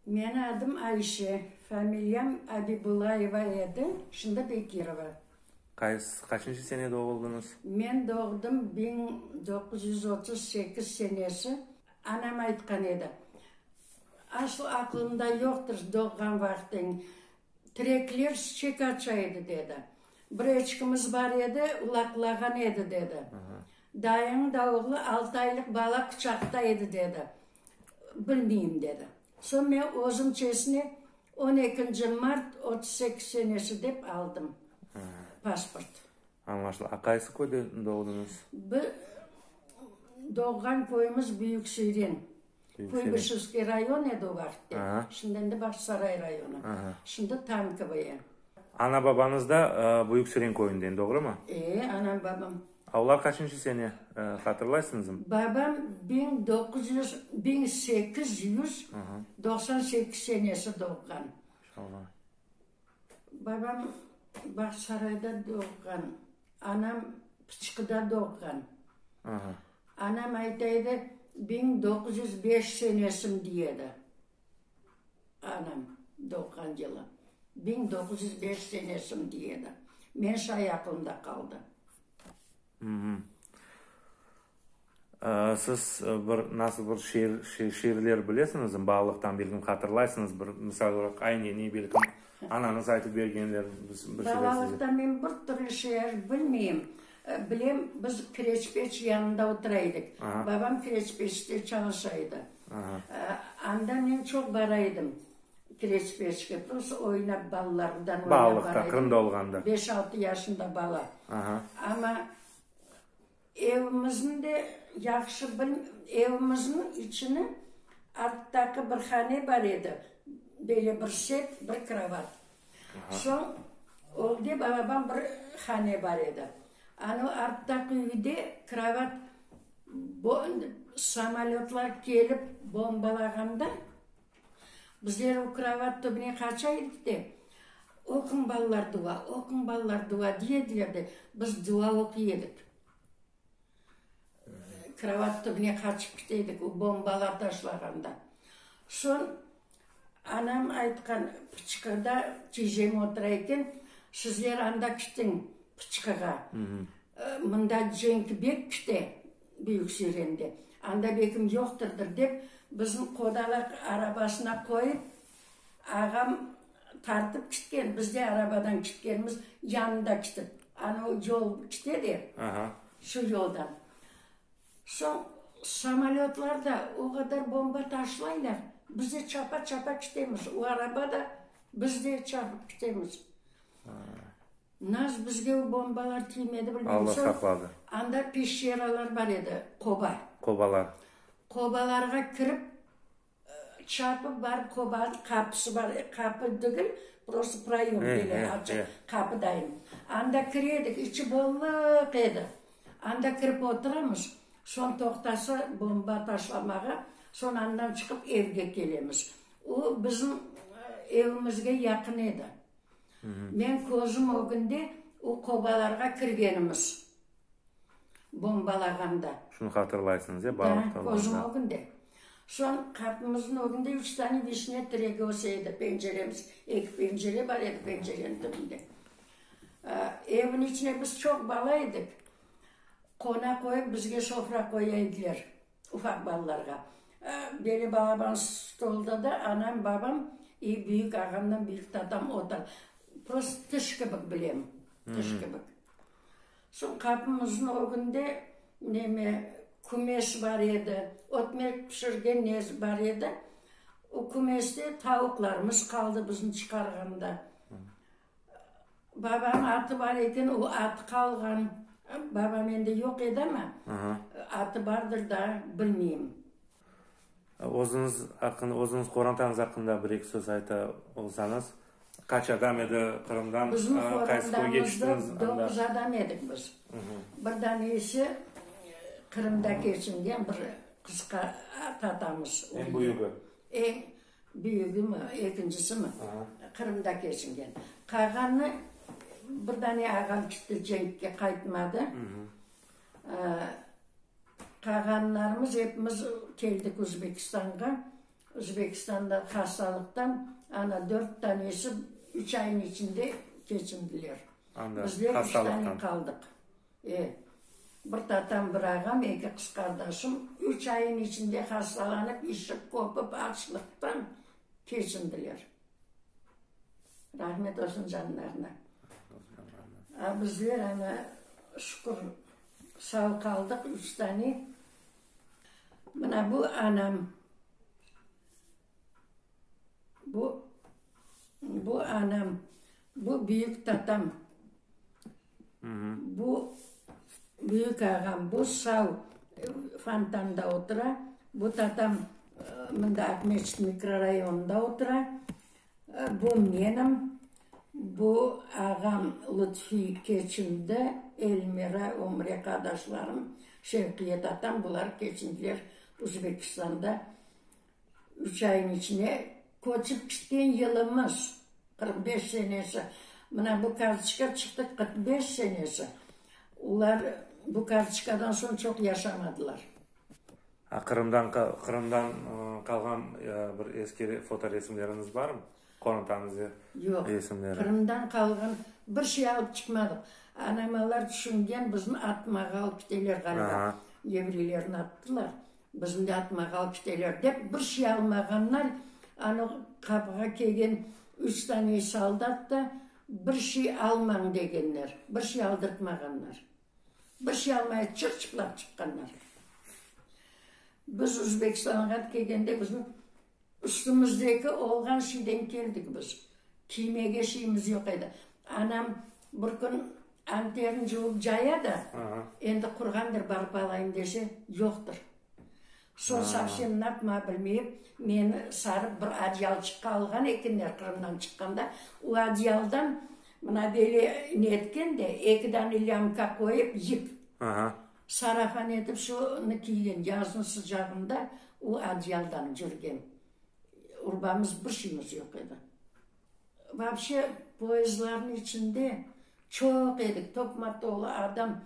Meni adım Ayşe, familiyam Abibullayeva edi, şimdi Bekirova. Qaysı, qaçıncı sene doğuldıñız? Men doğdım biñ doquz yüz otuz sekiz senesi. Anam aytqan edi, asıl aqlımda yoqtır doğğan vaqtıñ, tirekler şiçek aça edi, dedi. Bir eçkimiz bar edi, ulaqlağan edi, dedi. Dayıñıñ da oğlu altı aylıq bala quçaqta edi, dedi. Bilmeyim, dedi. Soñ men özüm çeşni on ekinci mart otuz sekiz senesi dep aldım pasport. Añlaşıldı. A qaysı köyde doğduñız? Biz doğğan köyümiz Büyük Siren. Kuybişevskiy rayon edi o vaqıtte. Şimdi endi Bağçasaray rayonı. Şimdi Tankovoye. Ana-babañız da Büyük Siren köyünden, doğrumı? E, anam-babam. Avval qaçıncı sene, hatırlaysıñızm? Babam biñ doquz yüz, biñ sekiz yüz doqsan sekiz senesi doğğan. Maşallah. Babam Bağçasarayda doğğan, anam Pıçqıda doğğan. Aha. Anam ayta edi, biñ doquz yüz beş senesim diy edi. Anam doğğan yılı, biñ doğuz yüz beş senesim, dey edi. Men şay aqlımda qaldı. Siz bir, nasıl bir şiir, şiirler bilesiñizmi? Balalıqtan belkim hatırlaysıñız, bir misal olaraq, Ayneni, belkim, anañız aytıp bergenlerin bir şeyler size. Balalıqtan men bir türlü şiir bilmeyim. Bilem, biz kireç-peç yanında otura edik. Babam kireç-peçte çalışa edi. Anda men çoq bara edim kireç-peçke. Prosta oynap, balalarımdan oynap bara edim. Balalıqta, Qırımda olğanda. Beş-altı yaşında bala. Amma evimizniñ de yahşı, evimizniñ içini arttaqı bir hane bar edi, böyle bir sep, bir krovat. Soñ oldı, balabam bir hane bar edi. Anı arttaqı üyde kravat samolötlar kelip bombalağanda, bizler o kravat tübüne qaça edik de, Oquñ, balalar, dua, oquñ, balalar, dua, diy ediler de, biz dua oquy edik. Kravat tübüne qaçıp kite edik, o bombalar taşlağanda. Soñ anam aytqan, pıçqıda cecem otura eken, sizler anda kitiñ pıçqığa, mında cenk bek kite, Büyük Sürende. Anda bekim yoqtırdır, dep, bizni qodalaq arabasına qoyıp, Ağam tartıp kitken, biz de arabadan kitkenmiz, yanında kitip. Anau yol kite de, şu yoldan. Soñ samolötlar da o qadar bomba taşlaylar, biz de çapa-çapa kitemiz. O araba da, biz de çapıp kitemiz. Nasıl bizge o bombalar tiymedi, bilmeyim. Soñ anda peşeralar bar edi, qoba. Qobalarğa kirip. Çarpı bar, qoban qapısı bar, qapı degil, prosta proyom böyle açıq, qapı dayım. Anda kiredik, içi bollıq edi. Anda kirip oturamız, soñ toqtasa bomba taşlamağa, soñ andan çıqıp evge kelemiz. O bizim evimizge yaqın edi. Men közüm ögünde o qobalarğa kirgenimiz. bombalağanda. Şunı hatırlaysıñız, ya, balıq Da, közüm ögünde. Soñ qapımıznıñ ögünde üç tane vişne tiregi öse edi, penceremiz, eki pencere bar edi pencereniñ tübünde. Evniñ içine biz çoq bala edik, qona qoyıp, bizge sofra qoya ediler, ufaq balalarğa. Böyle balaban stolda da anam, babam i büyük ağamnıñ, büyük tatam otur. Prosto tış kibik bilem, tış kibik. Soñ qabımıznıñ ögünde neme, kümes bar edi, ötmek pişirgen nesi bar edi. O kümeste tavuqlarımız qaldı bizni çıqarğanda. Babanıñ atı bar eken, o atı qalğan. Babam endi yoq edi ama, atı bardır da, bilmeyim. Özüñiz aqqında, özüñiz qorantanıñız aqqında bir-eki söz ayta olsañız, qaç adam edi, Qırımdan qaysı köyge tüştüñiz? Bizim qorantamızda doquz adam edik biz. Bir dane ise Qırımda keçingen bir qısqa ata-atamız. Eñ büyügi? Eñ büyügimi, ekincisimi Qırımda keçingen. Qalğanı, bir dane ağam tüşti, cenkke qaytmadı. Qağanlarımız epimiz keldik Uzbekistanğa. Uzbekistanda hastalıqtan ana dört tanesi üç aynıñ içinde keçindiler. Bizler üç tane qaldıq. E, bir tatam, bir ağam, eki qız qardaşım üç aynıñ içinde hastalanıp, işik qopıp, açlıqtan keçindiler. Rahmet olsun canlarına. A bizler ana şükür sağ qaldıq üç tane. Mına bu anam, bu anam Bu büyük tatam. Bu büyük ağam. Bu sal fontanda otura. Bu tatam mında Aqmescit mikrorayonında otura. Bu menim. Bu ağam Lutfi keçindi. Elmira, Ömre qardaşlarım, Şevqiye tatam. Bular keçindiler Uzbekistanda. Üç ayıñ içine köçip ketken yılımız, qırq beş senesi. Mına bu kartoçka çıqtı, qırq beş senesi. Olar bu kartoçkadan soñ çoq yaşamadılar. Qırımdan Qırımdan qalğan bir eski fotoresimleriñiz barmı? Qorantanıñ resimleri. Yoq, Qırımdan qalğan bir şey alıp çıqmadıq. Anam alar tüşüngen, bizni atmağa alıp keteler ğaliba. Evreylern attılar. Bizni yatma galpiteler dep bir şey almağanlar, anı qapığa kelgen üç tane soldat da bir şey almañ degenler, bir şey aldırtmağanlar. Bir şey almay çık çıplaq çıqqanlar. Biz Özbekistanğa kelgende bizni Üstümizdeki olğan şeyden keldik biz. Kiymege şeyimiz yoq edi. Anam bir kün anterin cuvıp caya da, endi qurğandır, barıp alayım dese, yoqtır. Soñ savsem napma bilmeyip, meni sarıp bir adyalçıqqa alğan ekenler Qırımdan çıqqanda. O adyaldan mına böyle ne etken de, eki dane lâmka qoyıp yip, Sarafan etip şunı kiygen, yazın sıcağında o adyaldan cürgen. Urbamız bir şeymiz yoq edi. Vapşe, poezdlarnıñ içinde çoq edik, toqma tolu adam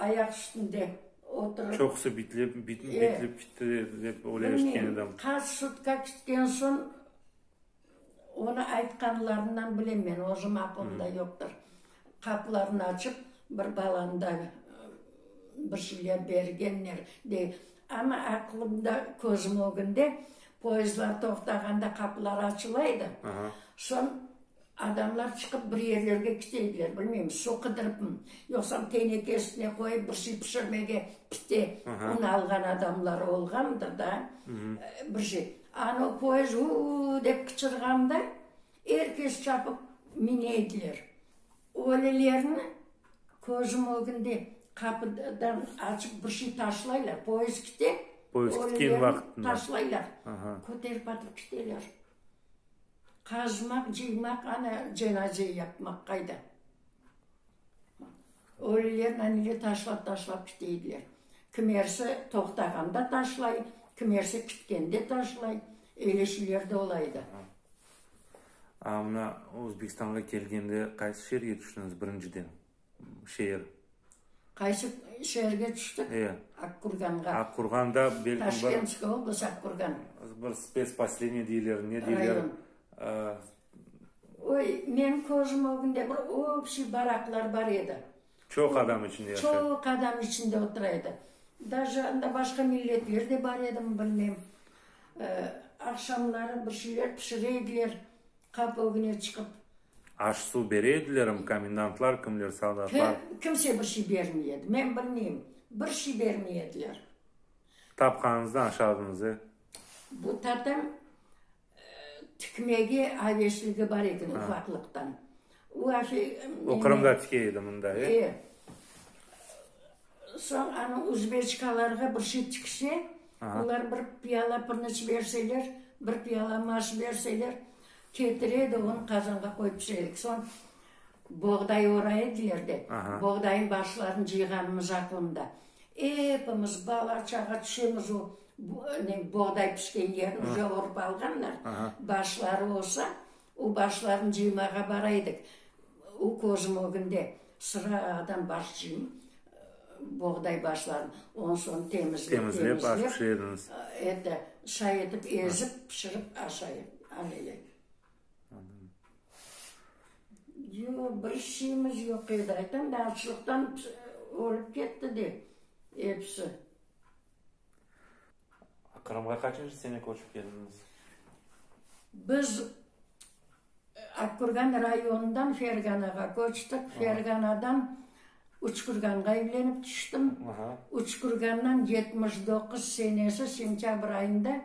ayaq üstünde oturıp. Çoqusı bitlip, bitlip kitti dep öyle eşitken edim. Bilmeyim, qaç sutka kütken soñ. Onı aytqanlarından bilem men, özüm aqlımda yoqtır. Qaplarını açıp, bir balanı da bir şeyler bergenler, dey. Amma aqlımda, közüm ögünde, poyezdlar toqtağanda qapılar açıla edi, soñ adamlar çıqıp bir yerlerge kite ediler, bilmeyim, su qıdırıpmı, yoqsam teneke üstüne qoyıp bir şey pişirmege, pite, un alğan adamları olğandır da, bir şey. Anı poezd uu-u-u dep qıçırğanda, er kes çapıp mine ediler. Ölelerni közüm ögünde qapıdan açıp bir şey taşlaylar, poezd kite, ölelerni taşlaylar, köterip atıp kiteler. Qazmaq, cıymaq, ana cenaze yapmaq qayda? Ölülerni nege taşlap-taşlap kiteydiler? Kimersi toqtağanda taşlay, kimersi kitkende taşlay. Eyle şeyler de ola edi. A, mına Özbekistanğa kelgende qaysı şeerge tüştüñiz birinciden? Şeer. Qaysı şeerge tüştik? E. Aqkurğanğa. Aqkurğanda belki bir. Taşkentskiy oblast, Aqkurğan. Bir spetsposeleniye deyler, ne deyler? Rayon. A, Oy, menim köjüm o günde bir obşiy baraqlar bar edi. Çoq adam içinde yaşa. Çoq adam içinde otura edi. Daja anda başqa milletler de bar edimi, bilmem. Aqşamları bir şeyler pişire ediler, qapı ögüne çıqıp. Aş-suv bere edilermi? Komendantlar kimler, soldatlar? Kimse bir şey bermey edi. Men bilmeyim. Bir şey bermey ediler. Tapqanıñızdan aşardınız, e? Bu tatam Tikmege aveşligi bar eken ufaqlıqtan. O afe meni. O Qırımda tike edi, mında, e? E. Soñ ana uzbeçkalarğa bir şey tikse, olar bir piyala pırnıç berseler, bir piyala maş berseler, ketire de onı qazanğa qoyıp pişire edik. Soñ boğday orayı derdi. Boğdayıñ başlarını cıyğanımız aqlımda. Epimiz, bala-çağa, tüşemiz o boğday pişken yerni uca orıp alğanlar, başları olsa, o başlarnı cıymağa bara edik. O közüm ögünde sıradan baş cıyım, boğday başlarını. Ondan soñ temizlep-temizlep, şay etip, ezip, pişirip aşa edik. Yoq, bir şeyimiz yoq edi. Aytam da, açlıqtan ölüp ketti de episi. Qırımğa qaçıncı sene köçip keldiñiz? Biz Akkürgan rayonından Ferganağa köçtik. Ferganadan Üçkürganğa evlenip tüştim. Üçkürgandan yetmiş doquz senesi sentâbr ayında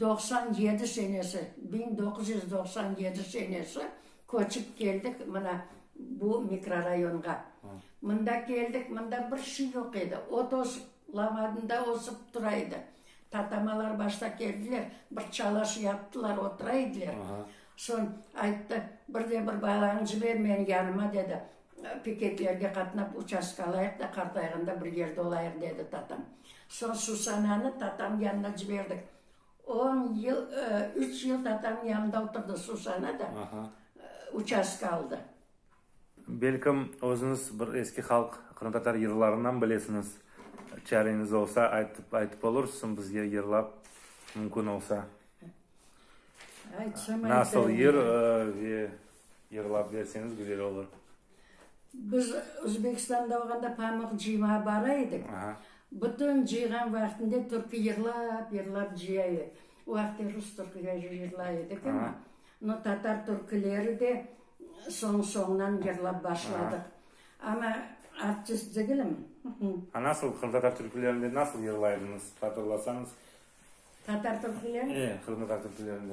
Doqsan yedi senesi, biñ doquz yüz doqsan yedi senesi köçip keldik mına bu mikrorayonğa. Mında keldik, mında bir şey yoq edi, ot ösip, lavadında ösip tura edi. Tatamalar başta keldiler, bir çalaş yaptılar, otura ediler. Soñ ayttı, bir de bir balañı jiber menim yanıma, dedi. Piketlerge qatnap, uçastka alayıq da, qartayğanda bir yerde olayıq, dedi tatam. Soñ Susananı tatam yanına ciberdik. On yıl, üç yıl tatam yanında oturdı Susana da, uçastka aldı. Belkim, özüñiz bir eski halq, qırımtatar yırlarınan bilesiñiz. Çareñiz olsa, aytıp olursuñ bizge yırlap, mümkün olsa. Nasıl yır ve Yırlap berseñiz güzel olur. Biz Özbekistanda olğanda pamıq cıymağa bara edik. Bütün cıyğan vaqtında türkü yırlap yırlap cıya edi. O vaqıtlar rus türküleri yırlay edik ama no tatar türküleri de soñ soñdan yırlap başladıq. Ama artist degilim. A nasıl qırımtatar türkülerini nasıl yırlaydıñız hatırlasañız? Tatar türkülerini? E, qırımtatar türkülerini.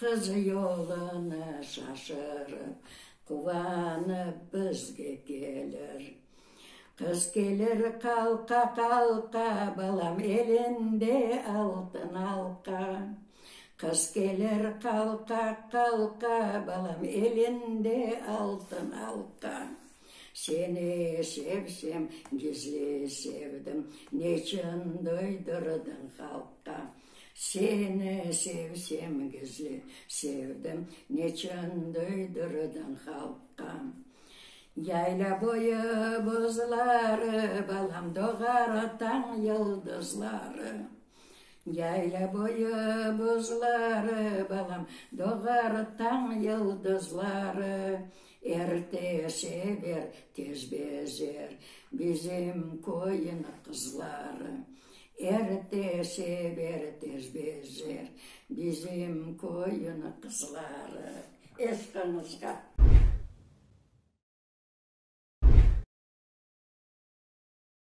Qız yolunı şaşırıp, quvanıp bizge kelir. Qız kelir qalqa-qalqa, balam elinde altın alqa. Qız kelir qalqa-qalqa, balam elinde altın alqa. Seni sevsem, gizli sevdim, neçün duydırdıñ halqqa? Seni sevsem gizli sevdim, Neçün duydurdın halqqa. Yayla boyu buzları, Balam, doğar o tañ yıldızları. Yayla boyu buzları, Balam, doğar o tañ yıldızları. Erte sever, tez bezer, Bizim köyün qızları. Erite sev, erite bezer, bizim köyüniñ qızları. Eşqıñızğa!